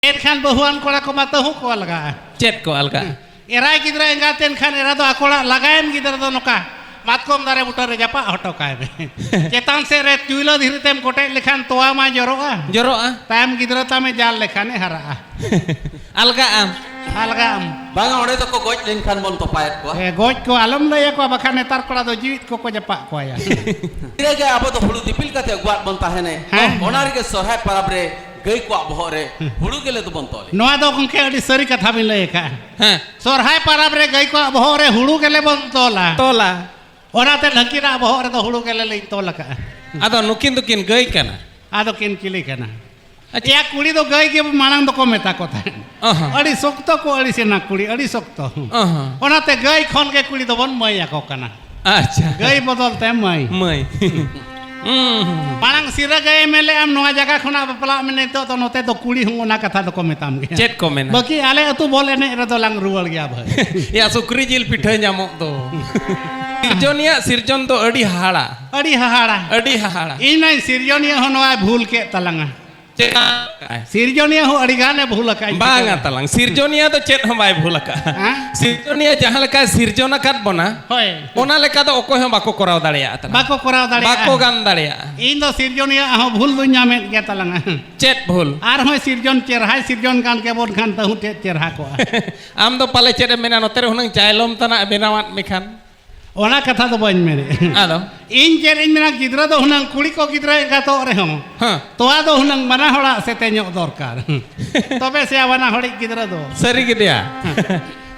ᱮᱱᱠᱷᱟᱱ ᱵᱟᱹᱦᱩᱣᱟᱱ ᱠᱚᱲᱟ ᱠᱚᱢᱟ ᱛᱟᱹᱦᱩ ᱠᱚ ᱟᱞᱜᱟᱜᱼᱟ ᱪᱮᱫ ᱠᱚ ᱟᱞᱜᱟᱜᱼᱟ ᱮᱨᱟᱭ ᱜᱤᱫᱽᱨᱟᱹ ᱮᱸᱜᱟᱛ ᱮᱱᱠᱷᱟᱱ ᱮᱨᱟ ᱫᱚ ᱟᱠᱚᱲᱟᱜ ᱞᱟᱜᱟᱭᱮᱱ ᱜᱤᱫᱽᱨᱟᱹ ᱫᱚ ᱱᱚᱝᱠᱟ ᱢᱟᱛᱠᱚᱢ ᱫᱟᱨᱮ ᱵᱩᱴᱟᱹ ᱨᱮ ᱡᱟᱯᱟᱜ ᱦᱚᱴᱚ ᱠᱟᱭ ᱢᱮ ᱪᱮᱛᱟᱱ ᱥᱮᱫ ᱨᱮ ᱪᱩᱭᱞᱟᱹ ᱫᱷᱤᱨᱤ ᱛᱮᱢ ᱠᱚᱴᱮᱡ ᱞᱮᱠᱷᱟᱱ ᱛᱚᱣᱟ ᱢᱟ ᱡᱚᱨᱚᱜᱼᱟ ᱡᱚᱨᱚᱜᱼᱟ ᱛᱟᱭᱚᱢ ᱜᱤᱫᱽᱨᱟᱹ ᱛᱟᱢᱮ ᱡᱟᱞ ᱞᱮᱠᱷᱟᱱᱮ ᱦᱟᱨᱟᱜᱼᱟ ᱟᱞᱜᱟᱜᱼᱟᱢ ᱟᱞᱜᱟᱜᱼᱟᱢ ᱵᱟᱝᱟ ᱚᱸᱰᱮ ᱫᱚᱠᱚ ᱜᱚᱡ ᱞᱮᱱᱠᱷᱟᱱ ᱵᱚᱱ ᱛᱚᱯᱟᱭᱮᱫ ᱠᱚᱣᱟ ᱦᱮᱸ ᱜᱚᱡ ᱠᱚ ᱟᱞᱚᱢ ᱞᱟᱹᱭ ᱟᱠᱚᱣᱟ ᱵᱟᱠᱷᱟᱱ ᱱᱮᱛᱟᱨ ᱠᱚᱲᱟ ᱫᱚ ᱡᱤᱣᱤᱫ ᱠᱚᱠᱚ ᱡᱟᱯᱟᱜ ᱠᱚᱣᱟᱭᱟ ᱛᱤᱱᱟᱹᱜ ᱜᱮ ᱟᱵᱚ ᱫᱚ ᱦᱩᱲᱩ ᱫᱤᱯᱤᱞ ᱠᱟᱛᱮ ᱟᱹᱜᱩᱣᱟᱜ ᱵᱚᱱ ᱛᱟᱦᱮᱱᱮ ᱦᱮᱸ ᱚᱱᱟ ᱨᱮᱜᱮ ᱥᱚᱨᱦᱟᱭ ᱯᱚᱨᱚᱵᱽ ᱨᱮ ᱜᱟᱹᱭ ᱠᱚᱣᱟᱜ ᱵᱚᱦᱚᱜ ᱨᱮ ᱦᱩᱲᱩ ᱜᱮᱞᱮ ᱫᱚᱵᱚᱱ ᱛᱚᱞᱮ ᱱᱚᱣᱟ ᱫᱚ ᱜᱚᱢᱠᱮ ᱟᱹᱰᱤ ᱥᱟᱹᱨᱤ ᱠᱟᱛᱷᱟ ᱵᱤᱱ ᱞᱟᱹᱭ ᱟᱠᱟᱫᱼᱟ ᱦᱮᱸ ᱥᱚᱨᱦᱟᱭ ᱯᱟᱨᱟᱵᱽ ᱨᱮ ᱜᱟᱹᱭ ᱠᱚᱣᱟᱜ ᱵᱚᱦᱚᱜ ᱨᱮ ᱦᱩᱲᱩ ᱜᱮᱞᱮ ᱵᱚᱱ ᱛᱚᱞᱟ ᱛᱚᱞᱟ ᱚᱱᱟᱛᱮ ᱱᱟᱹᱠᱤᱱᱟᱜ ᱵᱚᱦᱚᱜ ᱨᱮᱫᱚ ᱦᱩᱲᱩ ᱜᱮᱞᱮ ᱞᱤᱧ ᱛᱚᱞ ᱟᱠᱟᱫᱼᱟ ᱟᱫᱚ ᱱᱩᱠᱤᱱ ᱫᱚᱠᱤᱱ ᱜᱟᱹᱭ ᱠᱟᱱᱟ ᱟᱫᱚ ᱠᱤᱱ ᱪᱤᱞᱤ ᱠᱟᱱᱟ ᱟᱪᱪᱷᱟ ᱠᱩᱲᱤ ᱫᱚ ᱜᱟᱹᱭ ᱜᱮ ᱢᱟᱲᱟᱝ ᱫᱚᱠᱚ ᱢᱮᱛᱟ ᱠᱚ ᱛᱟᱦᱮᱸᱫ ᱟᱹᱰᱤ ᱥᱚᱠᱛᱚ ᱠᱚ ᱟᱹᱲᱤᱥᱮᱱᱟ ᱠᱩᱲᱤ ᱟᱹᱰᱤ ᱥᱚᱠᱛᱚ ᱚᱱᱟᱛᱮ ᱜᱟᱹᱭ ᱠᱷᱚᱱ ᱜᱮ ᱠᱩᱲᱤ ᱫᱚᱵᱚᱱ ᱢᱟᱹᱭ ᱟᱠᱚ ᱠᱟᱱᱟ ᱟᱪᱪᱷᱟ ᱜᱟᱹᱭ ᱵᱚᱫᱚᱞ ᱛᱮ ᱢᱟᱹᱭ ᱢᱟᱹᱭ ᱢᱟᱲᱟᱝ ᱥᱤᱨᱟᱹ ᱜᱟᱹᱭ ᱮᱢ ᱞᱮᱫ ᱟᱢ ᱱᱚᱣᱟ ᱡᱟᱭᱜᱟ ᱠᱷᱚᱱᱟᱜ ᱵᱟᱯᱞᱟᱜ ᱢᱮ ᱱᱤᱛᱚᱜ ᱫᱚ ᱱᱚᱛᱮ ᱫᱚ ᱠᱩᱲᱤ ᱦᱚᱸ ᱚᱱᱟ ᱠᱟᱛᱷᱟ ᱫᱚᱠᱚ ᱢᱮᱛᱟᱢ ᱜᱮᱭᱟ ᱪᱮᱫ ᱠᱚ ᱢᱮᱱᱟ ᱵᱟᱹᱠᱤ ᱟᱞᱮ ᱟᱹᱛᱩ ᱵᱚᱞ ᱮᱱᱮᱡ ᱨᱮᱫᱚ ᱞᱟᱝ ᱨᱩᱣᱟᱹᱲ ᱜᱮᱭᱟ ᱵᱷᱟᱹᱭ ᱭᱟ ᱥᱩᱠᱨᱤ ᱡᱤᱞ ᱯᱤᱴᱷᱟᱹ ᱧᱟᱢᱚᱜ ᱫᱚ ᱥᱤᱨᱡᱚᱱᱤᱭᱟᱜ ᱥᱤᱨᱡᱚᱱ ᱫᱚ ᱟᱹᱰᱤ ᱦᱟᱦᱟᱲᱟ ᱟᱹᱰᱤ ᱦᱟᱦᱟᱲᱟ ᱟᱹᱰᱤ ᱦᱟᱦᱟᱲᱟ ᱤᱧ ᱢᱟᱧ ᱥᱤᱨᱡᱚᱱᱤᱭᱟᱹ ᱦᱚᱸ ᱱᱚᱣᱟᱭ ᱵᱷᱩᱞ ᱠᱮᱫ ᱛᱟᱞᱟᱝᱟ ᱪᱮᱫ ᱥᱤᱨᱡᱚᱱᱤᱭᱟᱹ ᱦᱚᱸ ᱟᱹᱰᱤ ᱜᱟᱱᱮ ᱵᱷᱩᱞ ᱟᱠᱟᱫ ᱵᱟᱝᱟ ᱛᱟᱞᱟᱝ ᱥᱤᱨᱡᱚᱱᱤᱭᱟᱹ ᱫᱚ ᱪᱮᱫ ᱦᱚᱸ ᱵᱟᱭ ᱵᱷᱩᱞ ᱟᱠᱟᱫ ᱥᱤᱨᱡᱚᱱᱤᱭᱟᱹ ᱡᱟᱦᱟᱸ ᱞᱮᱠᱟ ᱥᱤᱨᱡᱚᱱ ᱟᱠᱟᱫ ᱵᱚᱱᱟ ᱦᱳᱭ ᱚᱱᱟ ᱞᱮᱠᱟ ᱫᱚ ᱚᱠᱚᱭ ᱦᱚᱸ ᱵᱟᱠᱚ ᱠᱚᱨᱟᱣ ᱫᱟᱲᱮᱭᱟᱜᱼᱟ ᱛᱟᱞᱟᱝ ᱵᱟᱠᱚ ᱠᱚᱨᱟᱣ ᱫᱟᱲᱮᱭᱟᱜᱼᱟ ᱵᱟᱠᱚ ᱜᱟᱱ ᱫᱟᱲᱮᱭᱟᱜᱼᱟ ᱤᱧ ᱫᱚ ᱥᱤᱨᱡᱚᱱᱤᱭᱟᱹ ᱦᱚᱸ ᱵᱷᱩᱞ ᱫᱚᱧ ᱧᱟᱢᱮᱫ ᱜᱮᱭᱟ ᱛᱟᱞᱟᱝ ᱪᱮᱫ ᱵᱷᱩᱞ ᱟᱨ ᱦᱚᱸ ᱥᱤᱨᱡᱚᱱ ᱪᱮᱨᱦᱟᱭ ᱥᱤᱨᱡᱚᱱ ᱠᱟᱱ ᱠᱮᱵᱚᱱ ᱠᱷᱟᱱ ᱛᱟᱹᱦᱩ ᱪᱮᱫ ᱪᱮᱨᱦᱟ ᱠᱚᱜᱼᱟ ᱟᱢ ᱫᱚ ᱯᱟᱞᱮ ᱪᱮᱫ ᱮᱢ ᱢᱮᱱᱟ ᱱᱚᱛᱮ ᱨᱮ ᱦᱩᱱᱟᱹᱝ ᱪᱟᱭᱞᱚᱢ ᱛᱟᱱᱟᱜ ᱵᱮᱱᱟᱣᱟᱫ ᱢᱮᱠᱷᱟᱱ ᱚᱱᱟ ᱠᱟᱛᱷᱟ ᱫᱚ ᱵᱟᱹᱧ ᱢᱮᱱᱮᱫ ᱟᱫᱚ ᱤᱧ ᱪᱮᱫ ᱤᱧ ᱢᱮᱱᱟ ᱜᱤᱫᱽᱨᱟᱹ ᱫᱚ ᱦᱩᱱᱟᱹᱝ ᱠᱩᱲᱤ ᱠᱚ ᱜᱤᱫᱽᱨᱟᱹ ᱮᱸᱜᱟᱛᱚᱜ ᱨᱮᱦᱚᱸ ᱛᱚᱣᱟ ᱫᱚ ᱦᱩᱱᱟᱹᱝ ᱵᱟᱱᱟ ᱦᱚᱲᱟᱜ ᱥᱮᱛᱮ ᱧᱚᱜ ᱫᱚᱨᱠᱟᱨ ᱛᱚᱵᱮ ᱥᱮ ᱵᱟᱱᱟ ᱦᱚᱲᱤᱡ ᱜᱤᱫᱽᱨᱟᱹ ᱫᱚ ᱥᱟᱹᱨᱤ ᱜᱮᱫᱮᱭᱟ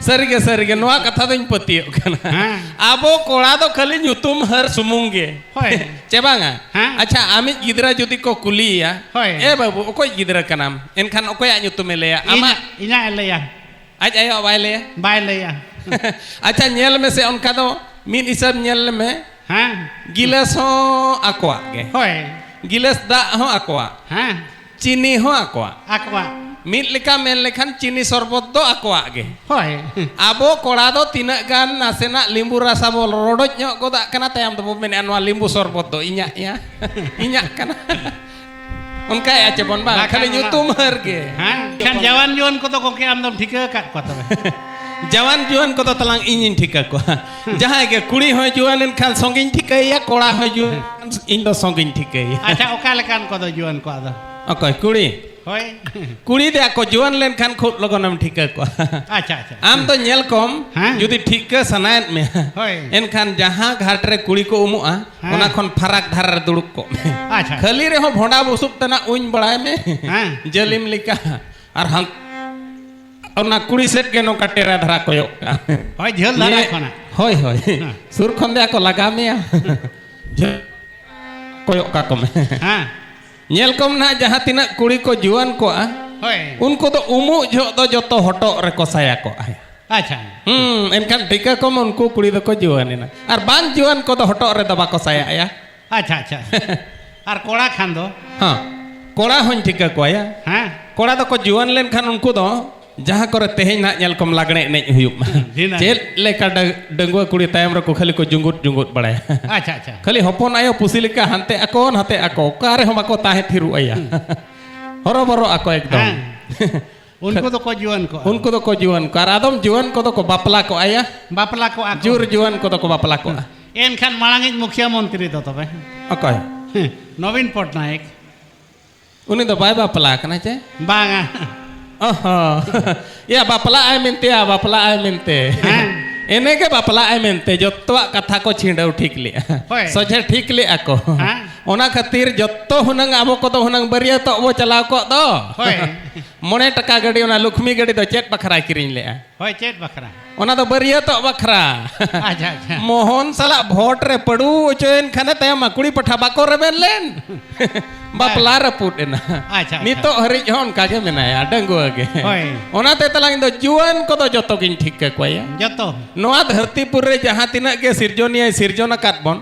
ᱥᱟᱹᱨᱤ ᱜᱮ ᱥᱟᱹᱨᱤ ᱜᱮ ᱱᱚᱣᱟ ᱠᱟᱛᱷᱟ ᱫᱚᱧ ᱯᱟᱹᱛᱭᱟᱹᱜ ᱠᱟᱱᱟ ᱟᱵᱚ ᱠᱚᱲᱟ ᱫᱚ ᱠᱷᱟᱹᱞᱤ ᱧᱩᱛᱩᱢ ᱦᱟᱹᱨ ᱥᱩᱢᱩᱝ ᱜᱮ ᱦᱳᱭ ᱪᱮ ᱵᱟᱝᱟ ᱟᱪᱪᱷᱟ ᱟᱢᱤᱡ ᱜᱤᱫᱽᱨᱟᱹ ᱡᱩᱫᱤ ᱠᱚ ᱠᱩᱞᱤᱭᱮᱭᱟ ᱮ ᱵᱟᱹᱵᱩ ᱚᱠᱚᱭ ᱜᱤᱫᱽᱨᱟᱹ ᱠᱟᱱᱟᱢ ᱮᱱᱠᱷᱟᱱ ᱚᱠᱚᱭᱟᱜ ᱧᱩᱛᱩᱢᱮ ᱞᱟᱹᱭᱟ ᱟᱢᱟᱜ ᱤᱧᱟᱜ ᱮ ᱞᱟᱹᱭᱟ ᱟᱡ ᱟᱭᱳ ᱵᱟᱭ ᱞᱟᱹᱭᱟ ᱵᱟᱭ ᱞᱟᱹᱭᱟ ᱟᱪᱪᱷᱟ ᱧᱮᱞ ᱢᱮ ᱥᱮ ᱚᱱᱠᱟ ᱫᱚ ᱢᱤᱫ ᱦᱤᱥᱟᱹᱵ ᱧᱮᱞ ᱢᱮ ᱦᱮᱸ ᱜᱤᱞᱟᱹᱥ ᱦᱚᱸ ᱟᱠᱚᱣᱟᱜ ᱜᱮ ᱦᱳᱭ ᱜᱤᱞᱟᱹᱥ ᱫᱟᱜ ᱦᱚᱸ ᱟᱠᱚᱣᱟᱜ ᱦᱮᱸ ᱪᱤᱱᱤ ᱦᱚᱸ ᱟᱠᱚᱣᱟᱜ ᱟᱠᱚᱣᱟᱜ ᱢᱤᱫ ᱞᱮᱠᱟ ᱢᱮᱱ ᱞᱮᱠᱷᱟᱱ ᱪᱤᱱᱤ ᱥᱚᱨᱵᱚᱛ ᱫᱚ ᱟᱠᱚᱣᱟᱜ ᱜᱮ ᱦᱳᱭ ᱟᱵᱚ ᱠᱚᱲᱟ ᱫᱚ ᱛᱤᱱᱟᱹᱜ ᱜᱟᱱ ᱱᱟᱥᱮᱱᱟᱜ ᱞᱤᱢᱵᱩ ᱨᱟᱥᱟ ᱵᱚ ᱨᱚᱰᱚᱡ ᱧᱚᱜ ᱜᱚᱫᱟᱜ ᱠᱟᱱᱟ ᱛᱟᱭᱚᱢ ᱛᱮᱵᱚ ᱢᱮᱱᱮᱫᱼᱟ ᱱᱚᱣᱟ ᱞᱤᱢᱵᱩ ᱥᱚᱨᱵᱚᱛ ᱫᱚ ᱤᱧᱟᱹᱜ ᱭᱟ ᱤᱧᱟᱹᱜ ᱠᱟᱱᱟ ᱚᱱᱠᱟ ᱭᱟ ᱪᱮ ᱵᱚᱱ ᱵᱟᱝ ᱠᱷᱟᱞᱤ ᱧᱩᱛᱩᱢ ᱦᱟᱨ ᱜᱮ ᱦᱮᱸ ᱠᱷᱟᱱ ᱡᱟᱣᱟᱱ ᱡᱩᱣᱟᱹᱱ ᱠᱚ ᱫᱚ ᱜᱚᱝᱠᱮ ᱟᱢ ᱫᱚᱢ ᱴᱷᱤᱠᱟᱹ ᱟᱠᱟᱫ ᱠᱚᱣᱟ ᱛᱚᱵᱮ ᱡᱟᱣᱟᱱ ᱡᱩᱣᱟᱹᱱ ᱠᱚ ᱫᱚ ᱛᱟᱞᱟᱝ ᱤᱧᱤᱧ ᱴᱷᱤᱠᱟᱹ ᱠᱚᱣᱟ ᱡᱟᱦᱟᱸᱭ ᱜᱮ ᱠᱩᱲᱤ ᱦᱚᱸ ᱡᱩᱣᱟᱹᱱ ᱮᱱ ᱠᱷᱟᱱ ᱥᱚᱝᱜᱤᱧ ᱴᱷᱤᱠᱟᱹᱭᱟ ᱠᱚᱲᱟ ᱦᱚᱸ ᱡᱩᱣᱟᱹᱱ ᱤᱧ ᱫᱚ ᱥᱚᱝᱜᱤᱧ ᱴᱷᱤᱠᱟᱹᱭᱟ ᱟᱪᱪᱷᱟ ᱚᱠᱟ ᱞᱮᱠᱟᱱ ᱠᱚ ᱫᱚ ᱡᱩᱣᱟᱹᱱ ᱠᱚᱣᱟ ᱫᱚ ᱚᱠᱚᱭ ᱠᱩᱲᱤ ᱦᱳᱭ ᱠᱩᱲᱤ ᱫᱮ ᱟᱠᱚ ᱡᱩᱣᱟᱹᱱ ᱞᱮᱱ ᱠᱷᱟᱱ ᱠᱷᱩᱵ ᱞᱚᱜᱚᱱᱮᱢ ᱴᱷᱤᱠᱟᱹ ᱠᱚᱣᱟ ᱟᱪᱪᱷᱟ ᱟᱪᱪᱷᱟ ᱟᱢ ᱫᱚ ᱧᱮᱞ ᱠᱚᱢ ᱡᱩᱫᱤ ᱴᱷᱤᱠᱟᱹ ᱥᱟᱱᱟᱭᱮᱫ ᱢᱮᱭᱟ ᱦᱳᱭ ᱮᱱᱠᱷᱟᱱ ᱡᱟᱦᱟᱸ ᱜᱷᱟᱴ ᱨᱮ ᱠᱩᱲᱤ ᱠᱚ ᱩᱢᱩᱜᱼᱟ ᱚᱱᱟ ᱠᱷᱚᱱ ᱯᱷᱟᱨᱟᱠ ᱫᱷᱟᱨᱟ ᱨᱮ ᱫᱩᱲᱩᱵ ᱠᱚᱜ ᱢᱮ ᱟᱪᱪᱷᱟ ᱠᱷᱟᱹᱞᱤ ᱨᱮᱦᱚᱸ ᱵᱷᱚᱸᱰᱟ ᱵᱩᱥᱩᱵ ᱛᱟᱱᱟ ᱩᱧ ᱵᱟᱲᱟᱭ ᱢᱮ ᱡᱟᱹᱞᱤᱢ ᱞᱮᱠᱟ ᱟᱨ ᱦᱟᱱ ᱚᱱᱟ ᱠᱩᱲᱤ ᱥᱮᱫ ᱜᱮ ᱱᱚᱝᱠᱟ ᱴᱮᱨᱟ ᱫᱷᱟᱨᱟ ᱠᱚᱭᱚᱜ ᱠᱟᱜ ᱢᱮ ᱦᱳᱭ ᱡᱷᱟᱹᱞ ᱫᱷᱟᱨᱟ ᱠᱷᱚᱱᱟᱜ ᱦᱳᱭ ᱦᱳᱭ ᱥᱩᱨ ᱠᱷᱚᱱ ᱫᱚ ᱟᱠᱚ ᱞᱟᱜᱟ ᱢᱮᱭᱟ ᱠᱚᱭᱚᱜ ᱠᱟᱠᱚ ᱢᱮ ᱦᱮᱸ ᱧᱮᱞ ᱠᱚᱢ ᱱᱟᱦᱟᱜ ᱡᱟᱦᱟᱸ ᱛᱤᱱᱟᱹᱜ ᱠᱩᱲᱤ ᱠᱚ ᱡᱩᱣᱟᱹᱱ ᱠᱚᱜᱼᱟ ᱦᱳᱭ ᱩᱱᱠᱩ ᱫᱚ ᱩᱢᱩᱜ ᱡᱚᱦᱚᱜ ᱫᱚ ᱡᱚᱛᱚ ᱦᱚᱴᱚᱜ ᱨᱮᱠᱚ ᱥᱟᱭᱟ ᱠᱚᱜᱼᱟ ᱟᱪᱪᱷᱟ ᱦᱩᱸ ᱮᱱᱠᱷᱟᱱ ᱴᱷᱤᱠᱟᱹ ᱠᱚᱢ ᱩᱱᱠᱩ ᱠᱩᱲᱤ ᱫᱚᱠᱚ ᱡᱩᱣᱟᱹᱱ ᱮᱱᱟ ᱟᱨ ᱵᱟᱝ ᱡᱩᱣᱟᱹᱱ ᱠᱚᱫᱚ ᱦᱚᱴᱚᱜ ᱨᱮᱫᱚ ᱵᱟᱠᱚ ᱥᱟᱭᱟᱭᱟ ᱟᱪᱪᱷᱟ ᱟᱪᱪᱷᱟ ᱟᱨ ᱠᱚᱲᱟ ᱠᱷᱟᱱ ᱫᱚ ᱦᱮᱸ ᱠᱚᱲᱟ ᱦᱚᱧ ᱴᱷᱤᱠᱟᱹ ᱠᱚᱣᱟᱭᱟ ᱦᱮᱸ ᱠᱚᱲᱟ ᱫᱚᱠᱚ ᱡᱩᱣᱟᱹᱱ ᱞᱮᱱᱠᱷᱟᱱ ᱩᱱᱠᱩ ᱫᱚ ᱡᱟᱦᱟᱸ ᱠᱚᱨᱮ ᱛᱮᱦᱮᱧ ᱱᱟᱜ ᱧᱮᱞ ᱠᱚᱢ ᱞᱟᱜᱽᱬᱮ ᱮᱱᱮᱡ ᱦᱩᱭᱩᱜ ᱢᱟ ᱪᱮᱫ ᱞᱮᱠᱟ ᱰᱟᱺᱜᱩᱣᱟᱹ ᱠᱩᱲᱤ ᱛᱟᱭᱚᱢ ᱨᱮᱠᱚ ᱠᱷᱟᱹᱞᱤ ᱠᱚ ᱡᱩᱸᱜᱩᱫ ᱡᱩᱸᱜᱩᱫ ᱵᱟᱲᱟᱭᱟ ᱟᱪᱪᱷᱟ ᱟᱪᱪᱷᱟ ᱠᱷᱟᱹᱞᱤ ᱦᱚᱯᱚᱱ ᱟᱭᱳ ᱯᱩᱥᱤ ᱞᱮᱠᱟ ᱦᱟᱱᱛᱮ ᱟᱠᱚ ᱱᱟᱛᱮ ᱟᱠᱚ ᱚᱠᱟ ᱨᱮᱦᱚᱸ ᱵᱟᱠᱚ ᱛᱟᱦᱮᱸ ᱛᱷᱤᱨᱚᱜ ᱟᱭᱟ ᱦᱚᱨᱚᱵᱚᱨᱚ ᱟᱠᱚ ᱮᱠᱫᱚᱢ ᱩᱱᱠᱩ ᱫᱚ ᱠᱚ ᱡᱩᱣᱟᱹᱱ ᱠᱚ ᱩᱱᱠᱩ ᱫᱚ ᱠᱚ ᱡᱩᱣᱟᱹᱱ ᱠᱚ ᱟᱨ ᱟᱫᱚᱢ ᱡᱩᱣᱟᱹᱱ ᱠᱚ ᱫᱚ ᱠᱚ ᱵᱟᱯᱞᱟ ᱠᱚ ᱟᱭᱟ ᱵᱟᱯᱞᱟ ᱠᱚ ᱟᱠᱚ ᱡᱩᱨ ᱡᱩᱣᱟᱹᱱ ᱠᱚ ᱫᱚ ᱠᱚ ᱵᱟᱯᱞᱟ ᱠᱚ ᱮᱱᱠᱷᱟᱱ ᱢᱟᱲᱟᱝᱤᱡ ᱢᱩᱠᱷᱤᱭᱟᱹ ᱢᱚᱱᱛᱨᱤ ᱫᱚ ᱛᱚᱵᱮ ᱚᱠᱚᱭ ᱱᱚᱵᱤᱱ ᱯᱚᱴᱱᱟᱭᱮᱠ ᱩᱱᱤ ᱫᱚ ᱵᱟᱭ ᱵᱟᱯᱞᱟ ᱠᱟᱱᱟ ᱪᱮ ᱵᱟᱝᱟ ᱭᱟ ᱵᱟᱯᱞᱟ ᱟᱭ ᱢᱮᱱᱛᱮ ᱭᱟ ᱵᱟᱯᱞᱟ ᱟᱭ ᱢᱮᱱᱛᱮ ᱮᱱᱮ ᱜᱮ ᱵᱟᱯᱞᱟ ᱟᱭ ᱢᱮᱱᱛᱮ ᱡᱚᱛᱚᱣᱟᱜ ᱠᱟᱛᱷᱟ ᱠᱚ ᱪᱷᱤᱸᱰᱟᱹᱣ ᱴᱷᱤᱠ ᱞᱮᱜᱼᱟ ᱥᱚᱡᱷᱮ ᱴᱷᱤᱠ ᱞᱮᱜᱼᱟ ᱠᱚ ᱚᱱᱟ ᱠᱷᱟᱹᱛᱤᱨ ᱡᱚᱛᱚ ᱦᱩᱱᱟᱹᱝ ᱟᱵᱚ ᱠᱚᱫᱚ ᱦᱩᱱᱟᱹᱝ ᱵᱟᱹᱨᱭᱟᱹᱛᱚᱜ ᱵᱚ ᱪᱟᱞᱟᱣ ᱠᱚᱜ ᱫᱚ ᱢᱚᱬᱮ ᱴᱟᱠᱟ ᱜᱟᱹᱰᱤ ᱚᱱᱟ ᱞᱩᱠᱷᱢᱤ ᱜᱟᱹᱰᱤ ᱫᱚ ᱪᱮᱫ ᱵᱟᱠᱷᱨᱟᱭ ᱠᱤᱨᱤᱧ ᱞᱮᱜᱼᱟ ᱦᱳᱭ ᱪᱮᱫ ᱵᱟᱠᱷᱨᱟ ᱚᱱᱟ ᱫᱚ ᱵᱟᱹᱨᱭᱟᱹᱛᱚᱜ ᱵᱟᱠᱷᱨᱟ ᱟᱪᱪᱷᱟ ᱟᱪᱪᱷᱟ ᱢᱳᱦᱚᱱ ᱥᱟᱞᱟᱜ ᱵᱷᱳᱴ ᱨᱮ ᱯᱟᱹᱰᱩ ᱚᱪᱚᱭᱮᱱ ᱠᱷᱟᱱᱮ ᱛᱟᱭᱚᱢ ᱠᱩᱲᱤ ᱯᱟᱴᱷᱟ ᱵᱟᱠᱚ ᱨᱮᱵᱮᱱ ᱞᱮᱱ ᱵᱟᱯᱞᱟ ᱨᱟᱹᱯᱩᱫ ᱮᱱᱟ ᱟᱪᱪᱷᱟ ᱱᱤᱛᱚᱜ ᱦᱟᱹᱨᱤᱡ ᱦᱚᱸ ᱚᱱᱠᱟ ᱜᱮ ᱢᱮᱱᱟᱭᱟ ᱰᱟᱺᱜᱩᱣᱟᱹ ᱜᱮ ᱦᱳᱭ ᱚᱱᱟᱛᱮ ᱛᱟᱞᱟᱝ ᱤᱧ ᱫᱚ ᱡᱩᱣᱟᱹᱱ ᱠᱚᱫᱚ ᱡᱚᱛᱚ ᱜᱤᱧ ᱴᱷᱤᱠ ᱠᱟᱠᱚᱣᱟ ᱡᱚᱛᱚ ᱱᱚᱣᱟ ᱫᱷᱟᱹᱨᱛᱤ ᱯᱩᱨ ᱨᱮ ᱡᱟᱦᱟᱸ ᱛᱤᱱᱟᱹᱜ ᱜᱮ ᱥᱤᱨᱡᱚᱱᱤᱭᱟᱹᱭ ᱥᱤᱨᱡᱚᱱ ᱟᱠᱟᱫ ᱵᱚᱱ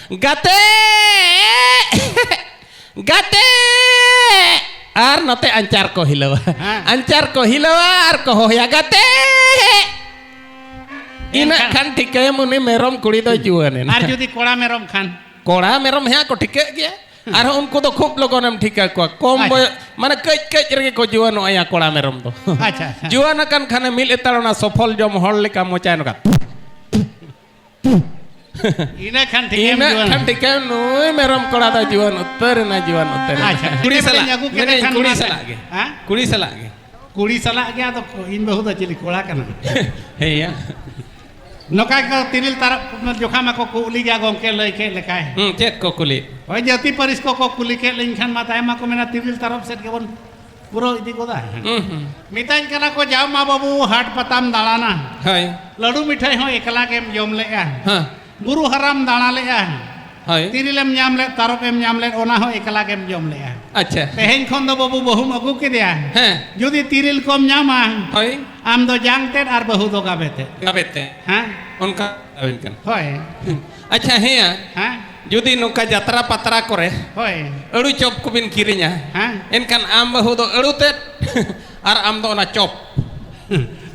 ᱜᱟᱛᱮ ᱜᱟᱛᱮ ᱟᱨ ᱱᱚᱛᱮ ᱟᱧᱪᱟᱨ ᱠᱚ ᱦᱤᱞᱟᱹᱣᱟ ᱟᱧᱪᱟᱨ ᱠᱚ ᱦᱤᱞᱟᱹᱣᱟ ᱟᱨ ᱠᱚ ᱦᱚᱦᱚᱭᱟ ᱜᱟᱛᱮ ᱤᱱᱟᱹ ᱠᱷᱟᱱ ᱴᱷᱤᱠᱟᱹᱭᱟᱢ ᱩᱱᱤ ᱢᱮᱨᱚᱢ ᱠᱩᱲᱤ ᱫᱚ ᱡᱩᱣᱟᱹᱱ ᱮᱱᱟ ᱟᱨ ᱡᱩᱫᱤ ᱠᱚᱲᱟ ᱢᱮᱨᱚᱢ ᱠᱷᱟᱱ ᱠᱚᱲᱟ ᱢᱮᱨᱚᱢ ᱦᱮᱸ ᱠᱚ ᱴᱷᱤᱠᱟᱹᱜ ᱜᱮᱭᱟ ᱟᱨ ᱩᱱᱠᱩ ᱫᱚ ᱠᱷᱩᱵ ᱞᱚᱜᱚᱱᱮᱢ ᱴᱷᱤᱠᱟ ᱠᱚᱣᱟ ᱠᱚᱢ ᱵᱚᱭᱚᱥ ᱢᱟᱱᱮ ᱠᱟᱹᱡ ᱠᱟᱹᱡ ᱨᱮᱜᱮ ᱠᱚ ᱡᱩᱣᱟᱹᱱᱚᱜᱼᱟ ᱠᱚᱲᱟ ᱢᱮᱨᱚᱢ ᱫᱚ ᱟᱪᱪᱷᱟ ᱡᱩᱣᱟᱹᱱ ᱟᱠᱟᱱ ᱠᱷᱟᱱᱮ ᱢᱤᱫ ᱞᱮᱛᱟᱲ ᱚᱱᱟ ᱥᱚᱯᱷᱚᱞ ᱡᱚᱢ ᱦᱚᱲ ᱞᱮᱠᱟ ᱢᱚᱪᱟᱭ ᱱᱚᱝᱠᱟ ᱤᱱᱟᱹ ᱠᱷᱟᱱ ᱴᱷᱤᱠ ᱮᱢ ᱤᱱᱟᱹᱜ ᱡᱩᱣᱟᱹᱱ ᱠᱷᱟᱱ ᱴᱷᱤᱠᱟᱹ ᱱᱩᱭ ᱢᱮᱨᱚᱢ ᱠᱚᱲᱟ ᱫᱚ ᱡᱩᱣᱟᱹᱱ ᱩᱛᱟᱹᱨ ᱮᱱᱟ ᱡᱩᱣᱟᱹᱱ ᱩᱛᱟᱹᱨ ᱮᱱᱟ ᱟᱪᱪᱷᱟ ᱠᱩᱲᱤ ᱥᱟᱞᱟᱜ ᱤᱱᱟᱹ ᱯᱚᱨᱮᱧ ᱟᱹᱜᱩ ᱠᱮᱫᱮ ᱢᱮᱱᱮᱫ ᱠᱷᱟᱱ ᱠᱩᱲᱤ ᱚᱱᱟ- ᱥᱟᱞᱟᱜ ᱜᱮ ᱦᱟ? ᱠᱩᱲᱤ ᱥᱟᱞᱟᱜ ᱜᱮ ᱠᱩᱲᱤ ᱥᱟᱞᱟᱜ ᱜᱮ ᱟᱫᱚ ᱤᱧ ᱵᱟᱹᱦᱩ ᱫᱚ ᱪᱤᱞᱤ ᱠᱚᱲᱟ ᱠᱟᱱᱟ ᱦᱮᱸᱭᱟ ᱱᱚᱝᱠᱟ ᱜᱮ ᱛᱤᱨᱤᱞ ᱛᱟᱨᱚᱵ ᱡᱚᱠᱷᱟ ᱢᱟᱠᱚ ᱠᱩᱞᱤ ᱜᱮᱭᱟ ᱜᱚᱢᱠᱮ ᱞᱟᱹᱭ ᱠᱮᱫ ᱞᱮᱠᱟᱭ ᱦᱩᱸ ᱪᱮᱫ ᱠᱚ ᱠᱩᱞᱤ ᱦᱳᱭ ᱡᱟᱹᱛᱤ ᱯᱟᱹᱨᱤᱥ ᱠᱚᱠᱚ ᱠᱩᱞᱤ ᱠᱮᱫ ᱞᱤᱧ ᱠᱷᱟᱱ ᱢᱟ ᱛᱟᱭᱚᱢ ᱢᱟᱠᱚ ᱢᱮᱱᱟ ᱛᱤᱨᱤᱞ ᱛᱟᱨᱚᱵ ᱥᱮᱫ ᱜᱮᱵᱚᱱ ᱯᱩᱨᱟᱹ ᱤᱫᱤ ᱜᱚᱫᱟ ᱢᱮᱛᱟᱹᱧ ᱠᱟᱱᱟ ᱠᱚ ᱡᱟᱣ ᱢᱟ ᱵᱟᱹᱵᱩ ᱦᱟᱴ ᱯᱟᱛᱟᱢ ᱫᱟᱬᱟᱱᱟ ᱦᱳᱭ ᱞᱟᱹᱰᱩ ᱢᱤᱴᱷᱟᱹᱭ ᱦᱚᱸ ᱮᱠᱞᱟ ᱜᱮᱢ ᱡᱚᱢ ᱞᱮᱜᱼᱟ ᱦᱮᱸ ᱵᱩᱨᱩ ᱦᱟᱨᱟᱢ ᱫᱟᱬᱟ ᱞᱮᱜᱼᱟ ᱦᱳᱭ ᱛᱤᱨᱤᱞᱮᱢ ᱧᱟᱢ ᱞᱮᱫ ᱛᱟᱨᱚᱵᱮᱢ ᱧᱟᱢ ᱞᱮᱫ ᱚᱱᱟ ᱦᱚᱸ ᱮᱠᱞᱟ ᱜᱮᱢ ᱡᱚᱢ ᱞᱮᱜᱼᱟ ᱟᱪᱪᱷᱟ ᱛᱮᱦᱮᱧ ᱠᱷᱚᱱ ᱫᱚ ᱵᱟᱹᱵᱩ ᱵᱟᱹᱦᱩᱢ ᱟᱹᱜᱩ ᱠᱮᱫᱮᱭᱟ ᱦᱮᱸ ᱡᱩᱫᱤ ᱛᱤᱨᱤᱞ ᱠᱚᱢ ᱧᱟᱢᱟ ᱦᱳᱭ ᱟᱢ ᱫᱚ ᱡᱟᱝ ᱛᱮᱫ ᱟᱨ ᱵᱟᱹᱦᱩ ᱫᱚ ᱜᱟᱵᱮ ᱛᱮᱫ ᱜᱟᱵᱮ ᱛᱮ ᱦᱮᱸ ᱚᱱᱠᱟ ᱟᱵᱮᱱ ᱠᱟᱱᱟ ᱦᱳᱭ ᱟᱪᱪᱷᱟ ᱦᱮᱸᱭᱟ ᱦᱮᱸ ᱡᱩᱫᱤ ᱱᱚᱝᱠᱟ ᱡᱟᱛᱨᱟ ᱯᱟᱛᱨᱟ ᱠᱚᱨᱮ ᱦᱳᱭ ᱟᱹᱲᱩ ᱪᱚᱯ ᱠᱚᱵᱤᱱ ᱠᱤᱨᱤᱧᱟ ᱦᱮᱸ ᱮᱱᱠᱷᱟᱱ ᱟᱢ ᱵᱟᱹᱦᱩ ᱫᱚ ᱟᱹᱲᱩ ᱛᱮᱫ ᱟᱨ ᱟᱢ ᱫᱚ ᱚᱱᱟ ᱪᱚᱯ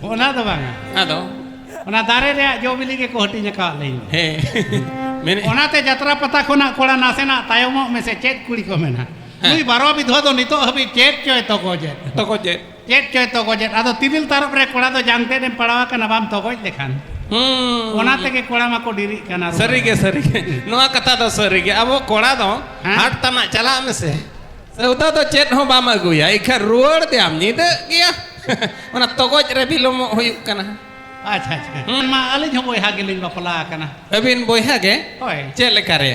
ᱚᱱᱟ ᱫᱚ ᱵᱟᱝᱟ ᱟᱫᱚ ᱚᱱᱟ ᱫᱟᱨᱮ ᱨᱮᱭᱟᱜ ᱡᱚ ᱵᱤᱞᱤ ᱜᱮᱠᱚ ᱦᱟᱹᱴᱤᱧ ᱟᱠᱟᱫ ᱞᱤᱧ ᱦᱮᱸ ᱢᱮᱱᱮᱫ ᱚᱱᱟᱛᱮ ᱡᱟᱛᱨᱟ ᱯᱟᱛᱟ ᱠᱷᱚᱱᱟᱜ ᱠᱚᱲᱟ ᱱᱟᱥᱮᱱᱟᱜ ᱛᱟᱭᱚᱢᱚᱜ ᱢᱮᱥᱮ ᱪᱮᱫ ᱠᱩᱲᱤ ᱠᱚ ᱢᱮᱱᱟ ᱱᱩᱭ ᱵᱟᱨᱚ ᱵᱤᱫᱷᱣᱟ ᱫᱚ ᱱᱤᱛᱚᱜ ᱦᱟᱹᱵᱤᱡ ᱪᱮᱫ ᱪᱚᱭ ᱛᱚᱠᱚ ᱪᱮᱫ ᱛᱚᱠᱚ ᱪᱮᱫ ᱪᱮᱫ ᱪᱚᱭ ᱛᱚᱜᱚᱡᱮᱫ ᱟᱫᱚ ᱛᱤᱨᱤᱞ ᱛᱟᱨᱚᱵ ᱨᱮ ᱠᱚᱲᱟ ᱫᱚ ᱡᱟᱝ ᱛᱮᱫ ᱮᱢ ᱯᱟᱲᱟᱣ ᱟᱠᱟᱱᱟ ᱵᱟᱢ ᱛᱚᱜᱚᱡ ᱞᱮᱠᱷᱟᱱ ᱚᱱᱟ ᱛᱮᱜᱮ ᱠᱚᱲᱟ ᱢᱟᱠᱚ ᱰᱤᱨᱤᱜ ᱠᱟᱱᱟ ᱥᱟᱹᱨᱤ ᱜᱮ ᱥᱟᱹᱨᱤ ᱜᱮ ᱱᱚᱣᱟ ᱠᱟᱛᱷᱟ ᱫᱚ ᱥᱟᱹᱨᱤ ᱜᱮ ᱟᱵᱚ ᱠᱚᱲᱟ ᱫᱚ ᱦᱟᱴ ᱛᱟᱱᱟᱜ ᱪᱟᱞᱟᱜ ᱢᱮᱥᱮ ᱥᱟᱹᱣᱫᱟ ᱫᱚ ᱪᱮᱫ ᱦᱚᱸ ᱵᱟᱢ ᱟᱹᱜᱩᱭᱟ ᱤᱠᱷᱟᱱ ᱨᱩᱣᱟᱹᱲ ᱫᱮᱭᱟᱢ ᱧᱤᱫᱟᱹᱜ ᱜᱮᱭᱟ ᱚᱱᱟ ᱛᱚᱜᱚᱡ ᱨᱮ ᱵᱤᱞᱚᱢᱚᱜ ᱦᱩᱭᱩᱜ ᱠᱟᱱᱟ ᱟᱪᱪᱷᱟ ᱟᱪᱪᱷᱟ ᱢᱟ ᱟᱹᱞᱤᱧ ᱦᱚᱸ ᱵᱚᱭᱦᱟ ᱜᱮᱞᱤᱧ ᱵᱟᱯᱞᱟ ᱟᱠᱟᱱᱟ ᱟᱹᱵᱤᱱ ᱵᱚᱭᱦᱟ ᱜᱮ ᱦᱳᱭ ᱪᱮᱫ ᱞᱮᱠᱟ ᱨᱮ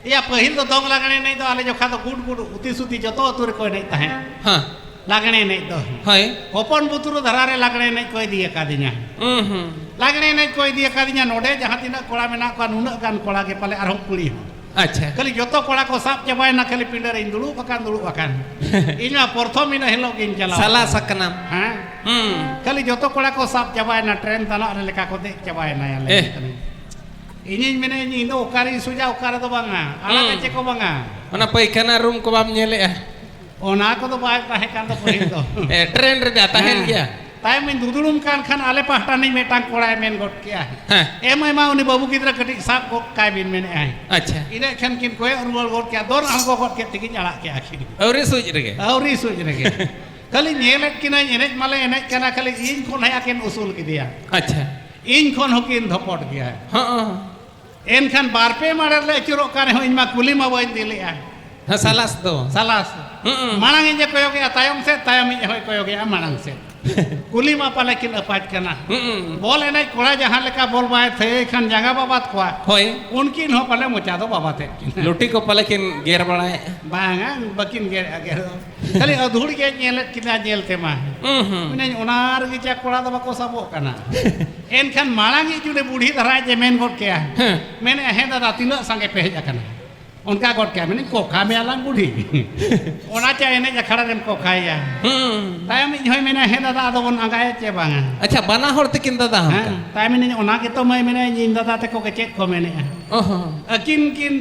ᱮᱭᱟ ᱯᱟᱹᱦᱤᱞ ᱫᱚ ᱫᱚᱝ ᱞᱟᱜᱽᱬᱮ ᱮᱱᱮᱡ ᱫᱚ ᱟᱞᱮ ᱡᱚᱠᱷᱟ ᱫᱚ ᱜᱩᱰ ᱜᱩᱰ ᱩᱛᱤ ᱥᱩᱛᱤ ᱡᱚᱛᱚ ᱟᱹᱛᱩ ᱨᱮᱠᱚ ᱮᱱᱮᱡ ᱛᱟᱦᱮᱸᱫ ᱦᱮᱸ ᱞᱟᱜᱽᱬᱮ ᱮᱱᱮᱡ ᱫᱚ ᱦᱳᱭ ᱦᱚᱯᱚᱱ ᱵᱩᱛᱨᱩ ᱫᱷᱟᱨᱟ ᱨᱮ ᱞᱟᱜᱽᱬᱮ ᱮᱱᱮᱡ ᱠᱚ ᱤᱫᱤ ᱟᱠᱟᱫᱤᱧᱟ ᱦᱩᱸ ᱦᱩᱸ ᱞᱟᱜᱽᱬᱮ ᱮᱱᱮᱡ ᱠᱚ ᱤᱫᱤ ᱟᱠᱟᱫᱤᱧᱟ ᱱᱚᱰᱮ ᱡᱟᱦᱟᱸ ᱛᱤᱱᱟᱹᱜ ᱠᱚᱲᱟ ᱢᱮᱱᱟᱜ ᱠᱚᱣᱟ ᱱᱩᱱᱟᱹᱜ ᱜᱟᱱ ᱠᱚᱲᱟ ᱜᱮ ᱯᱟᱞᱮ ᱟᱨᱦᱚᱸ ᱠᱩᱲᱤ ᱦᱚᱸ ᱟᱪᱪᱷᱟ ᱠᱷᱟᱹᱞᱤ ᱡᱚᱛᱚ ᱠᱚᱲᱟ ᱠᱚ ᱥᱟᱵ ᱪᱟᱵᱟᱭᱮᱱᱟ ᱠᱷᱟᱹᱞᱤ ᱯᱤᱸᱰᱟᱹ ᱨᱮᱧ ᱫᱩᱲᱩᱵ ᱟᱠᱟᱱ ᱫᱩᱲᱩᱵ ᱟᱠᱟᱱ ᱤᱧ ᱢᱟ ᱯᱨᱚᱛᱷᱚᱢ ᱤᱱᱟᱹ ᱦᱤᱞᱳᱜ ᱜᱤᱧ ᱪᱟᱞᱟᱣ ᱥᱟᱞᱟ ᱥᱟᱠᱱᱟᱢ ᱦᱮᱸ ᱦᱩᱸ ᱠᱷᱟᱹᱞᱤ ᱡᱚᱛᱚ ᱠᱚᱲᱟ ᱠᱚ ᱥᱟᱵ ᱪᱟᱵᱟᱭᱮᱱᱟ ᱴᱨᱮᱱ ᱛᱟᱱᱟᱜ ᱨᱮ ᱞᱮᱠᱟ ᱠᱚ ᱫᱮᱡ ᱪᱟᱵᱟᱭᱮᱱᱟ ᱮ ᱤᱧᱤᱧ ᱢᱮᱱᱮᱫ ᱤᱧ ᱤᱧ ᱫᱚ ᱚᱠᱟᱨᱤᱧ ᱥᱩᱡᱟ ᱚᱠᱟ ᱨᱮᱫᱚ ᱵᱟᱝᱟ ᱟᱲᱟᱜ ᱪᱮᱫ ᱠᱚ ᱵᱟᱝᱟ ᱚᱱᱟ ᱯᱟᱭᱠᱷᱟᱱᱟ ᱨᱩᱢ ᱠᱚ ᱵᱟᱢ ᱧᱮᱞᱮᱜᱼᱟ ᱚᱱᱟ ᱠᱚᱫᱚ ᱵᱟᱭ ᱛᱟᱦᱮᱸ ᱠᱟᱱ ᱫᱚ ᱯᱟᱹᱦᱤᱞ ᱫᱚ ᱴᱨᱮᱱ ᱨᱮ ᱛᱟᱦᱮᱱ ᱜᱮᱭᱟ ᱛᱟᱭᱚᱢ ᱤᱧ ᱫᱩᱫᱩᱲᱩᱢ ᱠᱟᱱ ᱠᱷᱟᱱ ᱟᱞᱮ ᱯᱟᱦᱴᱟ ᱱᱤᱡ ᱢᱤᱫᱴᱟᱝ ᱠᱚᱲᱟᱭ ᱢᱮᱱ ᱜᱚᱫ ᱠᱮᱜᱼᱟ ᱮᱢ ᱟᱭᱢᱟ ᱩᱱᱤ ᱵᱟᱹᱵᱩ ᱜᱤᱫᱽᱨᱟᱹ ᱠᱟᱹᱴᱤᱡ ᱥᱟᱵ ᱜᱚᱫ ᱠᱟᱭ ᱵᱤᱱ ᱢᱮᱱᱮᱜᱼᱟᱭ ᱟᱪᱪᱷᱟ ᱤᱱᱟᱹ ᱠᱷᱟᱱ ᱠᱤᱱ ᱠᱚᱭᱚᱜ ᱨᱩᱣᱟᱹᱲ ᱜᱚᱫ ᱠᱮᱜᱼᱟ ᱫᱚᱱ ᱟᱬᱜᱚ ᱜᱚᱫ ᱠᱮᱫ ᱛᱮᱠᱤᱱ ᱟᱲᱟᱜ ᱠᱮᱜᱼᱟ ᱠᱤᱱ ᱟᱹᱣᱨᱤ ᱥᱩᱡ ᱨᱮᱜᱮ ᱟᱹᱣᱨᱤ ᱥᱩᱡ ᱨᱮᱜᱮ ᱠᱷᱟᱹᱞᱤ ᱧᱮᱞᱮᱫ ᱠᱤᱱᱟᱹᱧ ᱮᱱᱮᱡ ᱢᱟᱞᱮ ᱮᱱᱮᱡ ᱠᱟᱱᱟ ᱠᱷᱟᱹᱞᱤ ᱤᱧ ᱠᱷᱚᱱ ᱦᱮᱡ ᱟᱹᱠᱤᱱ ᱩᱥᱩᱞ ᱠᱮᱫᱮᱭᱟ ᱟᱪᱪᱷᱟ ᱤᱧ ᱠᱷᱚᱱ ᱦᱚᱸᱠᱤᱱ ᱫᱷᱚᱯᱚᱴ ᱜᱮᱭᱟ ᱦᱚᱸ ᱮᱱᱠᱷᱟᱱ ᱵᱟᱨ ᱯᱮ ᱢᱟᱲᱮ ᱞᱮ ᱟᱹᱪᱩᱨᱚᱜ ᱠᱟᱱ ᱨᱮᱦᱚᱸ ᱤᱧ ᱢᱟ ᱠᱩᱞᱤ ᱢᱟ ᱵᱟᱹᱧ ᱤᱫᱤ ᱞᱮᱫᱼᱟ ᱦᱮᱸ ᱥᱟᱞᱟᱥ ᱫᱚ ᱥᱟᱞᱟᱥ ᱢᱟᱲᱟᱝ ᱤᱧ ᱠᱚᱭᱚᱜᱮᱜᱼᱟ ᱛᱟᱭᱚᱢ ᱥᱮᱫ ᱛᱟᱭᱚᱢ ᱤᱧ ᱦᱚᱸᱭ ᱠᱚᱭᱚᱜᱮᱜᱼᱟ ᱢᱟᱲᱟᱝ ᱥᱮᱫ ᱠᱩᱞᱤ ᱢᱟ ᱯᱟᱞᱮ ᱠᱤᱱ ᱟᱯᱟᱡ ᱠᱟᱱᱟ ᱵᱚᱞ ᱮᱱᱮᱡ ᱠᱚᱲᱟ ᱡᱟᱦᱟᱸ ᱞᱮᱠᱟ ᱵᱚᱞ ᱵᱟᱭ ᱛᱷᱟᱹᱭᱟᱹᱭ ᱠᱷᱟᱱ ᱡᱟᱸᱜᱟ ᱵᱟᱵᱟᱫ ᱠᱚᱣᱟ ᱦᱳᱭ ᱩᱱᱠᱤᱱ ᱦᱚᱸ ᱯᱟᱞᱮ ᱢᱚᱪᱟ ᱫᱚ ᱵᱟᱵᱟᱛᱮᱫ ᱠᱤᱱ ᱞᱩᱴᱤ ᱠᱚ ᱯᱟᱞᱮ ᱠᱤᱱ ᱜᱮᱨ ᱵᱟᱲᱟᱭᱮᱫᱼᱟ ᱵᱟᱝᱟ ᱵᱟᱹᱠᱤᱱ ᱜᱮᱨᱮᱫᱼᱟ ᱜᱮᱨ ᱫᱚ ᱠᱷᱟᱹᱞᱤ ᱟᱹᱫᱷᱩᱲ ᱜᱮ ᱧᱮᱞᱮᱫ ᱠᱤᱱᱟ ᱧᱮᱞ ᱛᱮᱢᱟ ᱢᱮᱱᱟᱹᱧ ᱚᱱᱟ ᱨᱮᱜᱮ ᱪᱟ ᱠᱚᱲᱟ ᱫᱚ ᱵᱟᱠᱚ ᱥᱟᱵᱚᱜ ᱠᱟᱱᱟ ᱮᱱᱠᱷᱟᱱ ᱢᱟᱲᱟᱝ ᱤᱡ ᱡᱩᱫᱤ ᱵᱩᱰᱷᱤ ᱫᱷᱟᱨᱟ ᱡᱮ ᱢᱮᱱ ᱜᱚᱫ ᱠᱮᱭᱟ ᱢᱮᱱᱮ ᱦᱮᱸ ᱫᱟᱫᱟ ᱛᱤᱱᱟᱹᱜ ᱥᱟᱸᱜᱮ ᱯᱮ ᱦᱮᱡ ᱟᱠᱟᱱᱟ ᱚᱱᱠᱟ ᱜᱚᱫ ᱠᱮᱭᱟ ᱢᱮᱱᱮᱧ ᱠᱚᱠᱷᱟ ᱢᱮᱭᱟ ᱞᱟᱝ ᱵᱩᱰᱷᱤ ᱚᱱᱟ ᱪᱟ ᱮᱱᱮᱡ ᱟᱠᱷᱲᱟ ᱨᱮᱢ ᱠᱚᱠᱷᱟᱭᱟ ᱛᱟᱭᱚᱢ ᱤᱧ ᱦᱚᱸᱭ ᱢᱮᱱᱟ ᱦᱮᱸ ᱫᱟᱫᱟ ᱟᱫᱚ ᱵᱚᱱ ᱟᱸᱜᱟᱭᱟ ᱪᱮ ᱵᱟᱝᱟ ᱟᱪᱪᱷᱟ ᱵᱟᱱᱟ ᱦᱚᱲ ᱛᱤᱠᱤᱱ ᱫᱟᱫᱟ ᱦᱚᱸ ᱦᱮᱸ ᱛᱟᱭᱚᱢ ᱢᱮᱱᱟᱹᱧ ᱚᱱᱟ ᱜᱮᱛᱚ ᱢᱟᱹᱭ ᱢᱮᱱᱟᱹᱧ ᱤᱧ ᱫᱟᱫᱟ ᱛᱮᱠᱚ ᱜᱮ ᱪᱮᱫ ᱠᱚ ᱢᱮᱱᱮᱜᱼᱟ ᱟᱹᱠᱤᱱ ᱠᱤᱱ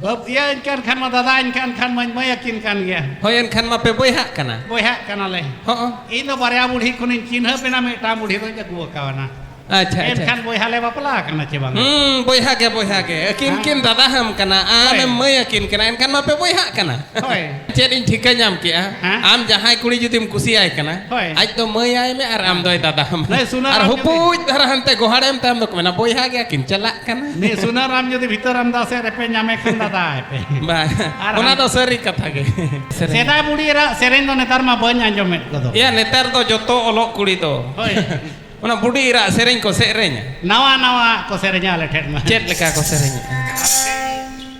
ᱵᱟᱹᱵᱽᱫᱤᱭᱟᱹᱧ ᱠᱟᱱ ᱠᱷᱟᱱ ᱢᱟ ᱫᱟᱫᱟᱧ ᱠᱟᱱ ᱠᱷᱟᱱ ᱢᱟᱹᱧ ᱢᱟᱹᱭ ᱟᱹᱠᱤᱱ ᱠᱟᱱ ᱜᱮᱭᱟ ᱦᱳᱭ ᱮᱱᱠᱷᱟᱱ ᱢᱟ ᱯᱮ ᱵᱚᱭᱦᱟᱜ ᱠᱟᱱᱟ ᱵᱚᱭᱦᱟᱜ ᱠᱟᱱᱟᱞᱮ ᱦᱚᱸ ᱤᱧ ᱫᱚ ᱵᱟᱨᱭᱟ ᱵᱩᱲᱦᱤ ᱠᱷᱚᱱᱤᱧ ᱪᱤᱱᱦᱟᱹᱯ ᱮᱱᱟ ᱢᱤᱫᱴᱟᱝ ᱵᱩᱲᱦᱤ ᱫᱚᱧ ᱟᱹᱜᱩ ᱟᱠᱟᱣᱱᱟ ᱟᱪᱪᱷᱟ ᱟᱪᱪᱷᱟ ᱮᱱᱠᱷᱟᱱ ᱵᱚᱭᱦᱟ ᱞᱮ ᱵᱟᱯᱞᱟ ᱟᱠᱟᱱᱟ ᱪᱮ ᱵᱟᱝ ᱦᱩᱸ ᱵᱚᱭᱦᱟ ᱜᱮ ᱵᱚᱭᱦᱟ ᱜᱮ ᱟᱹᱠᱤᱱ ᱠᱤᱱ ᱫᱟᱫᱟ ᱦᱟᱢ ᱠᱟᱱᱟ ᱟᱢᱮᱢ ᱢᱟᱹᱭ ᱟᱹᱠᱤᱱ ᱠᱟᱱᱟ ᱮᱱᱠᱷᱟᱱ ᱢᱟ ᱯᱮ ᱵᱚᱭᱦᱟᱜ ᱠᱟᱱᱟ ᱦᱳᱭ ᱪᱮᱫ ᱤᱧ ᱴᱷᱤᱠᱟᱹ ᱧᱟᱢ ᱠᱮᱜᱼᱟ ᱦᱮᱸ? ᱟᱢ ᱡᱟᱦᱟᱸᱭ ᱠᱩᱲᱤ ᱡᱩᱫᱤᱢ ᱠᱩᱥᱤᱭᱟᱭ ᱠᱟᱱᱟ ᱦᱳᱭ᱾ ᱟᱡ ᱫᱚ ᱢᱟᱹᱭ ᱟᱭ ᱢᱮ ᱟᱨ ᱟᱢ ᱫᱚᱭ ᱫᱟᱫᱟ ᱦᱟᱢ ᱱᱩᱭ ᱥᱩᱱᱟᱹᱨᱟᱢ ᱟᱨ ᱡᱩᱫᱤ- ᱦᱩᱯᱩᱡ ᱫᱷᱟᱨᱟ ᱦᱟᱱᱛᱮ ᱜᱚᱦᱟᱲᱮᱢ ᱛᱟᱭᱚᱢ ᱫᱚᱠᱚ ᱢᱮᱱᱟ ᱵᱚᱭᱦᱟ ᱜᱮᱭᱟ ᱠᱤᱱ ᱪᱟᱞᱟᱜ ᱠᱟᱱᱟ ᱱᱤ ᱥᱩᱱᱟᱨᱟᱢ ᱡᱩᱫᱤ ᱵᱷᱤᱛᱟᱹᱨᱟᱢ ᱫᱟᱥᱮ ᱨᱮᱯᱮ ᱧᱟᱢᱮ ᱠᱷᱟᱱ ᱫᱟᱫᱟ ᱟᱭᱯᱮ ᱵᱟᱝ ᱚᱱᱟ ᱫᱚ ᱥᱟᱹᱨᱤ ᱠᱟᱛᱷᱟ ᱜᱮ ᱥᱮᱫᱟᱭ ᱵᱩᱲᱤ ᱨᱟ ᱥᱮᱨᱮᱧ ᱫᱚ ᱱᱮᱛᱟᱨ ᱢᱟ ᱵᱟᱹᱧ ᱟᱸᱡᱚᱢᱮᱫ ᱠᱚᱫᱚ ᱭᱟ ᱱᱮᱛᱟᱨ ᱫᱚ ᱡᱚᱛᱚ ᱚᱞᱚᱜ ᱠᱩᱲᱤ ᱫᱚ ᱦᱳᱭ ᱚᱱᱟ ᱵᱩᱰᱤ ᱨᱟ ᱥᱮᱨᱮᱧ ᱠᱚ ᱥᱮᱨᱮᱧᱟ ᱱᱟᱣᱟ ᱱᱟᱣᱟ ᱠᱚ ᱥᱮᱨᱮᱧᱟ ᱟᱞᱮ ᱴᱷᱮᱱ ᱢᱟ ᱪᱮᱫ ᱞᱮᱠᱟ ᱠᱚ ᱥᱮᱨᱮᱧᱟ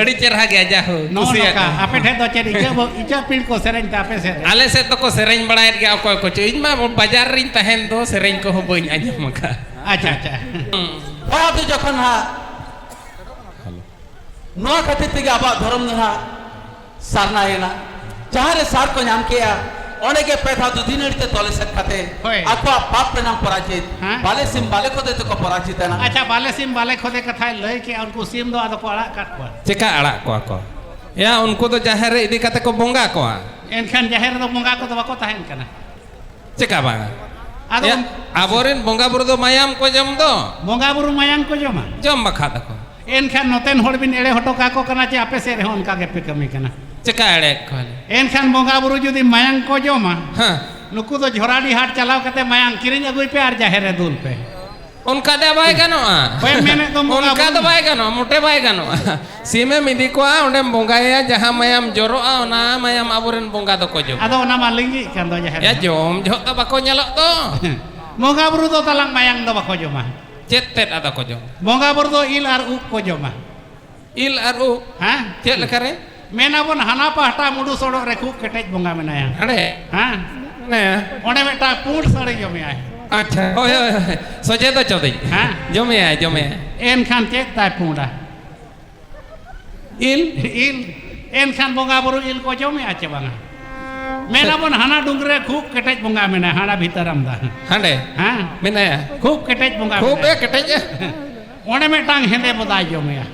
ᱟᱹᱰᱤ ᱪᱮᱨᱦᱟ ᱜᱮᱭᱟ ᱡᱟᱦᱳ ᱠᱩᱥᱤᱭᱟᱜ ᱠᱟᱱᱟ ᱟᱯᱮ ᱴᱷᱮᱱ ᱫᱚ ᱪᱮᱫ ᱤᱪᱟᱹ ᱤᱪᱟᱹ ᱯᱤᱲ ᱠᱚ ᱥᱮᱨᱮᱧ ᱛᱮ ᱟᱯᱮ ᱥᱮᱫ ᱟᱞᱮ ᱥᱮᱫ ᱫᱚᱠᱚ ᱥᱮᱨᱮᱧ ᱵᱟᱲᱟᱭᱮᱫ ᱜᱮᱭᱟ ᱚᱠᱚᱭ ᱠᱚ ᱪᱚ ᱤᱧ ᱢᱟ ᱵᱟᱡᱟᱨ ᱨᱤᱧ ᱛᱟᱦᱮᱱ ᱫᱚ ᱥᱮᱨᱮᱧ ᱠᱚᱦᱚᱸ ᱵᱟᱹᱧ ᱟᱸᱡᱚᱢ ᱟᱠᱟᱫ ᱟᱪᱪᱷᱟ ᱟᱪᱪᱷᱟ ᱱᱚᱣᱟ ᱫᱚ ᱡᱚᱠᱷᱚᱱ ᱦᱟᱸᱜ ᱱᱚᱣᱟ ᱠᱷᱟᱹᱛᱤᱨ ᱛᱮᱜᱮ ᱟᱵᱚᱣᱟᱜ ᱫᱷᱚᱨᱚᱢ ᱫᱚ ᱦᱟᱸᱜ ᱥᱟᱨᱱᱟ ᱮᱱᱟ ᱡᱟᱦᱟᱸ ᱨᱮ ᱥᱟᱨ ᱠᱚ ᱧᱟᱢ ᱠᱮᱜᱼᱟ ᱚᱸᱰᱮ ᱜᱮ ᱯᱮ ᱫᱷᱟᱣ ᱫᱩᱫᱷᱤ ᱱᱟᱹᱲᱤ ᱛᱮ ᱛᱚᱞ ᱮᱥᱮᱫ ᱠᱟᱛᱮ ᱦᱳᱭ᱾ ᱟᱠᱚᱣᱟᱜ ᱯᱟᱯ ᱨᱮᱱᱟᱜ ᱯᱚᱨᱟᱡᱤᱛ ᱦᱮᱸ᱾ ᱵᱟᱞᱮ ᱥᱤᱢ ᱵᱟᱞᱮ ᱠᱚᱫᱮ ᱛᱮᱠᱚ ᱯᱚᱨᱟᱡᱤᱛ ᱮᱱᱟ ᱟᱪᱪᱷᱟ ᱵᱟᱞᱮ ᱥᱤᱢ ᱵᱟᱞᱮ ᱠᱷᱚᱫᱮ ᱠᱟᱛᱷᱟᱭ ᱞᱟᱹᱭ ᱠᱮᱜᱼᱟ ᱩᱱᱠᱩ ᱥᱤᱢ ᱫᱚ ᱟᱫᱚ ᱠᱚ ᱟᱲᱟᱜ ᱠᱟᱜ ᱠᱚᱣᱟ ᱪᱮᱠᱟ ᱟᱲᱟᱜ ᱠᱚᱣᱟ ᱠᱚ ᱮᱭᱟ ᱩᱱᱠᱩ ᱫᱚ ᱡᱟᱦᱮᱨ ᱨᱮ ᱤᱫᱤ ᱠᱟᱛᱮ ᱠᱚ ᱵᱚᱸᱜᱟ ᱠᱚᱣᱟ ᱮᱱᱠᱷᱟᱱ ᱡᱟᱦᱮᱨ ᱨᱮᱫᱚ ᱵᱚᱸᱜᱟ ᱠᱚᱫᱚ ᱵᱟᱠᱚ ᱛᱟᱦᱮᱱ ᱠᱟᱱᱟ ᱪᱮᱠᱟ ᱵᱟᱝᱟ ᱟᱫᱚ ᱮᱭᱟ, ᱟᱵᱚᱨᱮᱱ ᱵᱚᱸᱜᱟ ᱵᱩᱨᱩ ᱫᱚ ᱢᱟᱭᱟᱢ ᱠᱚ ᱡᱚᱢ ᱫᱚ ᱵᱚᱸᱜᱟ ᱵᱩᱨᱩ ᱢᱟᱭᱟᱝ ᱠᱚ ᱡᱚᱢᱟ ᱡᱚᱢ ᱵᱟᱠᱷᱟ ᱫᱚᱠᱚ ᱮᱱᱠᱷᱟᱱ ᱱᱚᱛᱮᱱ ᱦᱚᱲ ᱵᱤᱱ ᱮᱲᱮ ᱦᱚᱴᱚ ᱠᱟᱠᱚ ᱠᱟᱱᱟ ᱪᱮ ᱟᱯᱮ ᱥᱮᱫ ᱨᱮᱦᱚᱸ ᱚᱱᱠᱟ ᱜᱮᱯᱮ ᱠᱟᱹᱢᱤ ᱠᱟᱱᱟ ᱪᱮᱠᱟ ᱮᱲᱮ ᱠᱚᱣᱟᱞᱮ ᱮᱱᱠᱷᱟᱱ ᱵᱚᱸᱜᱟ ᱵᱩᱨᱩ ᱡᱩᱫᱤ ᱢᱟᱭᱟᱝ ᱠᱚ ᱡᱚᱢᱟ ᱦᱮᱸ ᱱᱩᱠᱩ ᱫᱚ ᱡᱷᱚᱨᱟᱰᱤ ᱦᱟᱴ ᱪᱟᱞᱟᱣ ᱠᱟᱛᱮ ᱢᱟᱭᱟᱝ ᱠᱤᱨᱤᱧ ᱟᱹᱜᱩᱭ ᱯᱮ ᱟᱨ ᱡᱟᱦᱮᱨ ᱨᱮ ᱫᱩᱞ ᱯᱮ ᱚᱱᱠᱟ ᱫᱚ ᱵᱟᱭ ᱜᱟᱱᱚᱜᱼᱟ ᱦᱳᱭ ᱢᱮᱱᱮᱫ ᱫᱚᱢ ᱵᱚᱸᱜᱟ ᱚᱱᱠᱟ ᱫᱚ ᱵᱩᱨᱩ ᱵᱟᱭ ᱜᱟᱱᱚᱜᱼᱟ ᱢᱚᱴᱮ ᱵᱟᱭ ᱜᱟᱱᱚᱜᱼᱟ ᱥᱤᱢᱮᱢ ᱤᱫᱤ ᱠᱚᱣᱟ ᱚᱸᱰᱮᱢ ᱵᱚᱸᱜᱟᱭᱟ ᱡᱟᱦᱟᱸ ᱢᱟᱭᱟᱢ ᱡᱚᱨᱚᱜᱼᱟ ᱚᱱᱟ ᱢᱟᱭᱟᱢ ᱟᱵᱚᱨᱮᱱ ᱵᱚᱸᱜᱟ ᱫᱚᱠᱚ ᱡᱚᱢᱟ ᱟᱫᱚ ᱚᱱᱟ ᱢᱟ ᱞᱤᱸᱜᱤᱜ ᱠᱟᱱ ᱫᱚ ᱡᱟᱦᱮᱨ ᱭᱟ ᱨᱮ ᱡᱚᱢ ᱡᱚᱦᱚᱜ ᱫᱚ ᱵᱟᱠᱚ ᱧᱮᱞᱚᱜ ᱫᱚ ᱵᱚᱸᱜᱟ ᱵᱩᱨᱩ ᱫᱚ ᱛᱟᱞᱟᱝ ᱢᱟᱭᱟᱝ ᱫᱚ ᱵᱟᱠᱚ ᱡᱚᱢᱟ ᱪᱮᱫ ᱛᱮᱫ ᱟᱫᱚ ᱠᱚ ᱡᱚᱢᱟ ᱵᱚᱸᱜᱟ ᱵᱩᱨᱩ ᱫᱚ ᱤᱞ ᱟᱨ ᱩᱵ ᱠᱚ ᱡᱚᱢᱟ ᱤᱞ ᱟᱨ ᱩᱵ ᱦᱮᱸ ᱪᱮᱫ ᱞᱮᱠᱟ ᱨᱮ ᱢᱮᱱᱟᱵᱚᱱ ᱦᱟᱱᱟ ᱯᱟᱦᱴᱟ ᱢᱩᱰᱩ ᱥᱚᱲᱚᱜ ᱨᱮ ᱠᱷᱩᱵ ᱠᱮᱴᱮᱡ ᱵᱚᱸᱜᱟ ᱢᱮᱱᱟᱭᱟ ᱟᱲᱮ ᱦᱮᱸ ᱚᱸᱰᱮ ᱢᱤᱫᱴᱟᱝ ᱯᱩᱸᱰ ᱥᱟᱹᱲᱤ ᱡᱚᱢᱮᱭᱟᱭ ᱟᱪᱪᱷᱟ ᱦᱳᱭ ᱦᱳᱭ ᱥᱚᱡᱮ ᱫᱚ ᱪᱚᱫᱤᱧ ᱦᱮᱸ ᱡᱚᱢᱮᱭᱟᱭ ᱡᱚᱢᱮᱭᱟᱭ ᱮᱱᱠᱷᱟᱱ ᱪᱮᱫ ᱛᱟᱭ ᱯᱩᱸᱰᱟ ᱤᱞ ᱤᱞ ᱮᱱᱠᱷᱟᱱ ᱵᱚᱸᱜᱟ ᱵᱩᱨᱩ ᱤᱞ ᱠᱚ ᱡᱚᱢᱮᱜᱼᱟ ᱪᱮ ᱵᱟᱝᱟ ᱢᱮᱱᱟ ᱵᱚᱱ ᱦᱟᱱᱟ ᱰᱩᱝᱨᱤ ᱨᱮ ᱠᱷᱩᱵ ᱠᱮᱴᱮᱡ ᱵᱚᱸᱜᱟ ᱢᱮᱱᱟᱭᱟ ᱦᱟᱱᱟ ᱵᱷᱤᱛᱟᱹᱨ ᱟᱢᱫᱟ ᱦᱟᱸᱰᱮ ᱦᱮᱸ ᱢᱮᱱᱟᱭᱟ ᱠᱷᱩᱵ ᱠᱮᱴᱮᱡ ᱵᱚᱸᱜᱟ ᱠᱷᱩᱵ ᱮ ᱠᱮᱴᱮᱡᱟ ᱚᱸᱰᱮ ᱢᱤᱫᱴᱟᱝ ᱦᱮᱸᱫᱮ ᱵᱚᱫᱟᱭ ᱡᱚᱢᱮᱭᱟ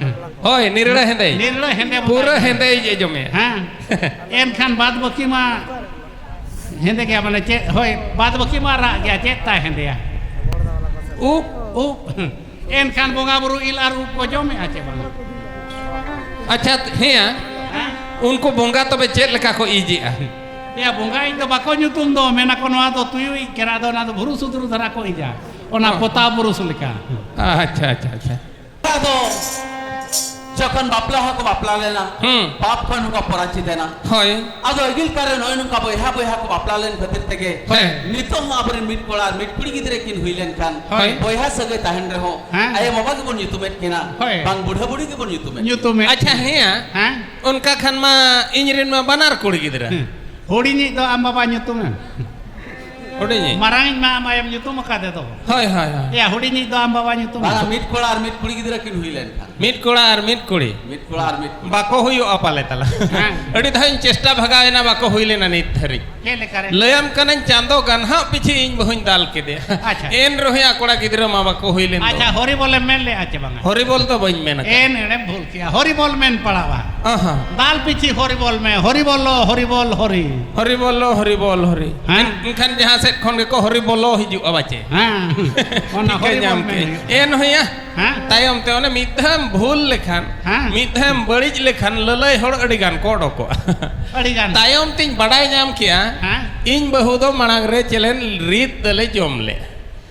ᱦᱳᱭ ᱱᱤᱨᱲᱟᱹ ᱦᱮᱸᱫᱮ ᱱᱤᱨᱲᱟᱹ ᱦᱮᱸᱫᱮ ᱯᱩᱨᱟᱹ ᱦᱮᱸᱫᱮ ᱤᱡ ᱡᱚᱢᱮᱭᱟ ᱦᱮᱸ ᱮᱱᱠᱷᱟᱱ ᱵᱟᱫ ᱵᱟᱹᱠᱤ ᱢᱟ ᱦᱮᱸᱫᱮ ᱜᱮᱭᱟ ᱢᱟᱱᱮ ᱪᱮᱫ ᱦᱳᱭ ᱵᱟᱫ ᱵᱟᱹᱠᱤ ᱢᱟ ᱨᱟᱜ ᱜᱮᱭᱟ ᱪᱮᱫ ᱛᱟᱭ ᱦᱮᱸᱫᱮᱭᱟ ᱩᱵ ᱩᱵ ᱮᱱᱠᱷᱟᱱ ᱵᱚᱸᱜᱟ ᱵᱩᱨᱩ ᱤᱞ ᱟᱨ ᱩᱵ ᱠᱚ ᱡᱚᱢᱮᱜᱼᱟ ᱪᱮ ᱵᱟᱝ ᱟᱪᱪᱷᱟ ᱦᱮᱸ ᱩᱱᱠᱩ ᱵᱚᱸᱜᱟ ᱛᱚᱵᱮ ᱪᱮᱫ ᱞᱮᱠᱟ ᱠᱚ ᱤᱡᱮᱜᱼᱟ ᱮᱭᱟ ᱵᱚᱸᱜᱟ ᱤᱡ ᱫᱚ ᱵᱟᱠᱚ ᱧᱩᱛᱩᱢ ᱫᱚ ᱢᱮᱱᱟ ᱠᱚ ᱱᱚᱣᱟ ᱫᱚ ᱛᱩᱭᱩ ᱤᱡ ᱠᱟᱱᱟ ᱟᱫᱚ ᱚᱱᱟ ᱫᱚ ᱵᱷᱩᱨᱩ ᱥᱩᱫᱽᱨᱩ ᱫᱷᱟᱨᱟ ᱠᱚ ᱤᱡᱟ ᱚᱱᱟ ᱯᱚᱛᱟᱣ ᱵᱩᱨᱩᱥ ᱞᱮᱠᱟ ᱟᱪᱪᱷᱟ ᱟᱪᱪᱷᱟ ᱟᱪᱪᱷᱟ ᱟᱫᱚ ᱡᱚᱠᱷᱚᱱ ᱵᱟᱯᱞᱟ ᱦᱚᱸᱠᱚ ᱵᱟᱯᱞᱟ ᱞᱮᱱᱟ ᱯᱟᱯ ᱠᱷᱚᱱ ᱦᱚᱸᱠᱚ ᱯᱚᱨᱟᱪᱤᱛ ᱮᱱᱟ ᱦᱳᱭ ᱟᱫᱚ ᱟᱹᱜᱤᱞ ᱠᱟᱨᱮ ᱱᱚᱜᱼᱚᱭ ᱱᱚᱝᱠᱟ ᱵᱚᱭᱦᱟ ᱵᱚᱭᱦᱟ ᱠᱚ ᱵᱟᱯᱞᱟ ᱞᱮᱱ ᱠᱷᱟᱹᱛᱤᱨ ᱛᱮᱜᱮ ᱱᱤᱛᱚᱜ ᱦᱚᱸ ᱟᱵᱚᱨᱮᱱ ᱢᱤᱫ ᱠᱚᱲᱟ ᱢᱤᱫ ᱠᱩᱲᱤ ᱜᱤᱫᱽᱨᱟᱹ ᱠᱤᱱ ᱦᱩᱭ ᱞᱮᱱᱠᱷᱟᱱ ᱵᱚᱭᱦᱟ ᱥᱟᱹᱜᱟᱹᱭ ᱛᱟᱦᱮᱱ ᱨᱮᱦᱚᱸ ᱟᱭᱳ ᱵᱟᱵᱟ ᱜᱮᱵᱚᱱ ᱧᱩᱛᱩᱢᱮᱫ ᱠᱤᱱᱟ ᱵᱟᱝ ᱵᱩᱰᱷᱟᱹ ᱵᱩᱲᱦᱤ ᱜᱮᱵᱚᱱ ᱧᱩᱛᱩᱢᱮᱫ ᱧᱩᱛᱩᱢᱮᱫ ᱟᱪᱪᱷᱟ ᱦᱮᱸ ᱚᱱᱠᱟ ᱠᱷᱟᱱ ᱢᱟ ᱤᱧ ᱨᱮᱱ ᱢᱟ ᱵᱟᱱᱟᱨ ᱠᱩᱲᱤ ᱜᱤᱫᱽᱨᱟᱹ ᱦᱩᱰᱤᱧᱤᱡ ᱫᱚ ᱟᱢ ᱵᱟᱵᱟ ᱧᱩᱛᱩᱢᱮᱢ ᱦᱩᱰᱤᱧᱤᱡ ᱢᱟᱨᱟᱝᱤᱡ ᱢᱟ ᱟᱢ ᱟᱭᱳᱢ ᱧᱩᱛᱩᱢ ᱟᱠᱟᱫᱮ ᱫᱚ ᱦᱳᱭ ᱦᱳᱭ ᱦᱳᱭ ᱮᱭᱟ ᱦᱩᱰᱤᱧᱤᱡ ᱫᱚ ᱟᱢ ᱵᱟᱵᱟ ᱧᱩᱛᱩᱢ ᱵᱟᱝᱟ ᱢᱤᱫ ᱠᱚᱲᱟ ᱟᱨ ᱢᱤᱫ ᱠᱩᱲᱤ ᱜᱤᱫᱽᱨᱟᱹ ᱠᱤᱱ ᱦᱩᱭ ᱞᱮᱱᱠᱷᱟᱱ ᱢᱤᱫ ᱠᱚᱲᱟ ᱟᱨ ᱢᱤᱫ ᱠᱩᱲᱤ ᱢᱤᱫ ᱠᱚᱲᱟ ᱟᱨ ᱢᱤᱫ ᱠᱩᱲᱤ ᱵᱟᱠᱚ ᱦᱩᱭᱩᱜᱼᱟ ᱯᱟᱞᱮ ᱛᱟᱞᱟ ᱦᱮᱸ᱾ ᱟᱹᱰᱤ ᱫᱷᱟᱣ ᱤᱧ ᱪᱮᱥᱴᱟ ᱵᱷᱟᱜᱟᱣ ᱮᱱᱟ ᱵᱟᱠᱚ ᱦᱩᱭ ᱞᱮᱱᱟ ᱱᱤᱛ ᱫᱷᱟᱹᱨᱤᱡ ᱪᱮᱫ ᱞᱮᱠᱟ ᱨᱮ ᱞᱟᱹᱭᱟᱢ ᱠᱟᱹᱱᱟᱹᱧ ᱪᱟᱸᱫᱚ ᱜᱟᱱᱦᱟᱜ ᱯᱤᱪᱷᱤ ᱤᱧ ᱵᱟᱹᱦᱩᱧ ᱫᱟᱞ ᱠᱮᱫᱮᱭᱟ ᱟᱪᱪᱷᱟ᱾ ᱮᱱ ᱨᱮᱦᱚᱸ ᱠᱚᱲᱟ ᱜᱤᱫᱽᱨᱟᱹ ᱢᱟ ᱵᱟᱠᱚ ᱦᱩᱭ ᱞᱮᱱ ᱟᱪᱪᱷᱟ ᱫᱚ ᱦᱚᱨᱤᱵᱚᱞᱮᱢ ᱢᱮᱱ ᱞᱮᱫᱼᱟ ᱪᱮ ᱵᱟᱝᱟ ᱦᱚᱨᱤᱵᱚᱞ ᱫᱚ ᱵᱟᱹᱧ ᱢᱮᱱ ᱟᱠᱟᱫᱟ ᱮᱱ ᱮᱲᱮᱢ ᱵᱷᱩᱞ ᱠᱮᱭᱟ ᱦᱚᱨᱤᱵᱚᱞ ᱢᱮᱱ ᱯᱟᱲᱟᱣᱟ ᱟᱦᱟ ᱫᱟᱞ ᱯᱤᱪᱷᱤ ᱦᱚᱨᱤᱵᱚᱞ ᱢᱮ ᱦᱚᱨᱤᱵᱚᱞᱚ ᱦᱚᱨᱤᱵᱚᱞ ᱦᱚᱨᱤ ᱦᱚᱨᱤ ᱵᱚᱞᱚ ᱦᱚᱨᱤ ᱵᱚᱞ ᱦᱚᱨᱤ ᱦᱮᱸ? ᱮᱱᱠᱷᱟᱱ ᱡᱟᱦᱟᱸ ᱥᱮᱫ ᱠᱷᱚᱱ ᱜᱮᱠᱚ ᱦᱚᱨᱤ ᱵᱚᱞᱚ ᱦᱤᱡᱩᱜᱼᱟ ᱵᱟᱪᱮ ᱦᱮᱸ ᱚᱱᱟ ᱴᱷᱤᱠᱟᱹ ᱦᱚᱨᱤᱵᱚᱞ ᱧᱟᱢ ᱢᱮᱱ ᱠᱮᱜ ᱦᱩᱭᱩᱜᱼᱟ᱾ ᱮᱱ ᱦᱩᱭᱟ ᱦᱮᱸ ᱛᱟᱭᱚᱢ ᱛᱮ ᱚᱱᱮ ᱢᱤᱫ ᱫᱷᱟᱣ ᱮᱢ ᱵᱷᱩᱞ ᱞᱮᱠᱷᱟᱱ ᱦᱮᱸ᱾ ᱢᱤᱫ ᱫᱷᱟᱣ ᱮᱢ ᱵᱟᱹᱲᱤᱡ ᱞᱮᱠᱷᱟᱱ ᱞᱟᱹᱞᱟᱹᱭ ᱦᱚᱲ ᱟᱹᱰᱤ ᱜᱟᱱ ᱠᱚ ᱚᱰᱚᱠᱚᱜᱼᱟ ᱟᱹᱰᱤ ᱜᱟᱱ ᱛᱟᱭᱚᱢ ᱛᱤᱧ ᱵᱟᱰᱟᱭ ᱧᱟᱢ ᱠᱮᱜᱼᱟ ᱦᱮᱸ ᱤᱧ ᱵᱟᱹᱦᱩ ᱫᱚ ᱢᱟᱲᱟᱝ ᱨᱮ ᱪᱮᱞᱮᱱ ᱨᱤᱫ ᱫᱚᱞᱮ ᱡᱚᱢ ᱞᱮᱫᱼᱟ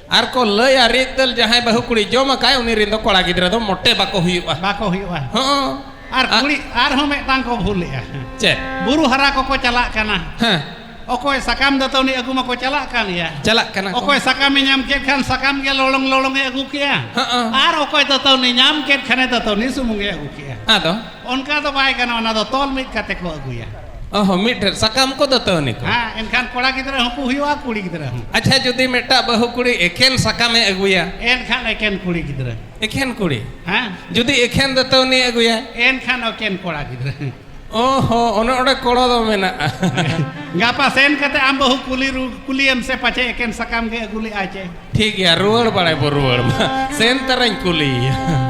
ᱟᱨ ᱠᱚ ᱞᱟᱹᱭᱟ ᱨᱤᱫ ᱫᱟᱹᱞ ᱡᱟᱦᱟᱸᱭ ᱵᱟᱹᱦᱩ ᱠᱩᱲᱤ ᱡᱚᱢ ᱟᱠᱟᱭ ᱩᱱᱤ ᱨᱮᱱ ᱫᱚ ᱠᱚᱲᱟ ᱜᱤᱫᱽᱨᱟᱹ ᱫᱚ ᱢᱚᱴᱮ ᱵᱟᱠᱚ ᱦᱩᱭᱩᱜᱼᱟ ᱵᱟᱠᱚ ᱦᱩᱭᱩᱜᱼᱟ ᱦᱚᱸ ᱟᱨ ᱠᱩᱲᱤ ᱟᱨᱦᱚᱸ ᱢᱤᱫᱴᱟᱝ ᱠᱚ ᱵᱷᱩᱞᱮᱜᱼᱟ ᱪᱮᱫ ᱵᱩᱨᱩ ᱦᱟᱨᱟ ᱠᱚᱠᱚ ᱪᱟᱞᱟᱜ ᱠᱟᱱᱟ ᱦᱮᱸ ᱚᱠᱚᱭ ᱥᱟᱠᱟᱢ ᱫᱟᱹᱛᱟᱹᱣᱱᱤ ᱟᱹᱜᱩ ᱢᱟᱠᱚ ᱪᱟᱞᱟᱜ ᱠᱟᱱ ᱜᱮᱭᱟ ᱪᱟᱞᱟᱜ ᱠᱟᱱᱟ ᱠᱚ ᱚᱠᱚᱭ ᱥᱟᱠᱟᱢᱮ ᱧᱟᱢ ᱠᱮᱫ ᱠᱷᱟᱱ ᱥᱟᱠᱟᱢ ᱜᱮ ᱞᱚᱞᱚᱝ ᱞᱚᱞᱚᱝᱮ ᱟᱹᱜᱩ ᱠᱮᱜᱼᱟ ᱦᱚᱸ ᱟᱨ ᱚᱠᱚᱭ ᱫᱟᱹᱛᱟᱹᱣᱱᱤ ᱧᱟᱢ ᱠᱮᱫ ᱠᱷᱟᱱᱮ ᱫᱟᱹᱛᱟᱹᱣᱱᱤ ᱥᱩᱢᱩᱝᱮ ᱟᱹᱜᱩ ᱠᱮᱜᱼᱟ ᱟᱫᱚ ᱚᱱᱠᱟ ᱫᱚ ᱵᱟᱭ ᱜᱟᱱᱚᱜᱼᱟ ᱚᱱᱟ ᱫᱚ ᱛᱚᱞ ᱢᱤᱫ ᱠᱟᱛᱮ ᱠᱚ ᱟᱹᱜᱩᱭᱟ ᱚᱦᱚ ᱢᱤᱫᱴᱷᱮᱱ ᱥᱟᱠᱟᱢ ᱠᱚ ᱫᱟᱹᱛᱟᱹᱱᱤ ᱠᱚ ᱦᱮᱸ ᱮᱱᱠᱷᱟᱱ ᱠᱚᱲᱟ ᱜᱤᱫᱽᱨᱟᱹ ᱦᱚᱸᱠᱚ ᱦᱩᱭᱩᱜᱼᱟ ᱠᱩᱲᱤ ᱜᱤᱫᱽᱨᱟᱹ ᱦᱚᱸ ᱟᱪᱪᱷᱟ ᱡᱩᱫᱤ ᱢᱤᱫᱴᱟᱝ ᱵᱟᱹᱦᱩ ᱠᱩᱲᱤ ᱮᱠᱮᱱ ᱥᱟᱠᱟᱢᱮ ᱟᱹᱜᱩᱭᱟ ᱮᱱᱠᱷᱟᱱ ᱮᱠᱮᱱ ᱠᱩᱲᱤ ᱜᱤᱫᱽᱨᱟᱹ ᱮᱠᱷᱮᱱ ᱠᱩᱲᱤ ᱦᱮᱸ ᱡᱩᱫᱤ ᱮᱠᱷᱮᱱ ᱫᱟᱹᱛᱟᱹᱱᱤ ᱟᱹᱜᱩᱭᱟ ᱮᱱᱠᱷᱟᱱ ᱮᱠᱮᱱ ᱠᱚᱲᱟ ᱜᱤᱫᱽᱨᱟᱹ ᱚᱦᱚ ᱚᱱᱮ ᱚᱸᱰᱮ ᱠᱚᱲᱚ ᱫᱚ ᱢᱮᱱᱟᱜᱼᱟ ᱜᱟᱯᱟ ᱥᱮᱱ ᱠᱟᱛᱮ ᱟᱢ ᱵᱟᱹᱦᱩ ᱠᱩᱞᱤ ᱨᱩ ᱠᱩᱞᱤᱭᱮᱢ ᱥᱮ ᱯᱟᱪᱮ ᱮᱠᱮᱱ ᱥᱟᱠᱟᱢ ᱜᱮ ᱟᱹᱜᱩ ᱞᱮᱫᱼᱟ ᱪᱮ ᱴᱷᱤᱠ ᱜᱮᱭᱟ ᱨᱩᱣᱟᱹᱲ ᱵᱟᱲᱟᱭ ᱵᱚ ᱨᱩᱣᱟᱹᱲ ᱢᱟ ᱥᱮᱱ ᱛᱟᱨᱟᱧ ᱠᱩᱞᱤᱭᱮᱭᱟ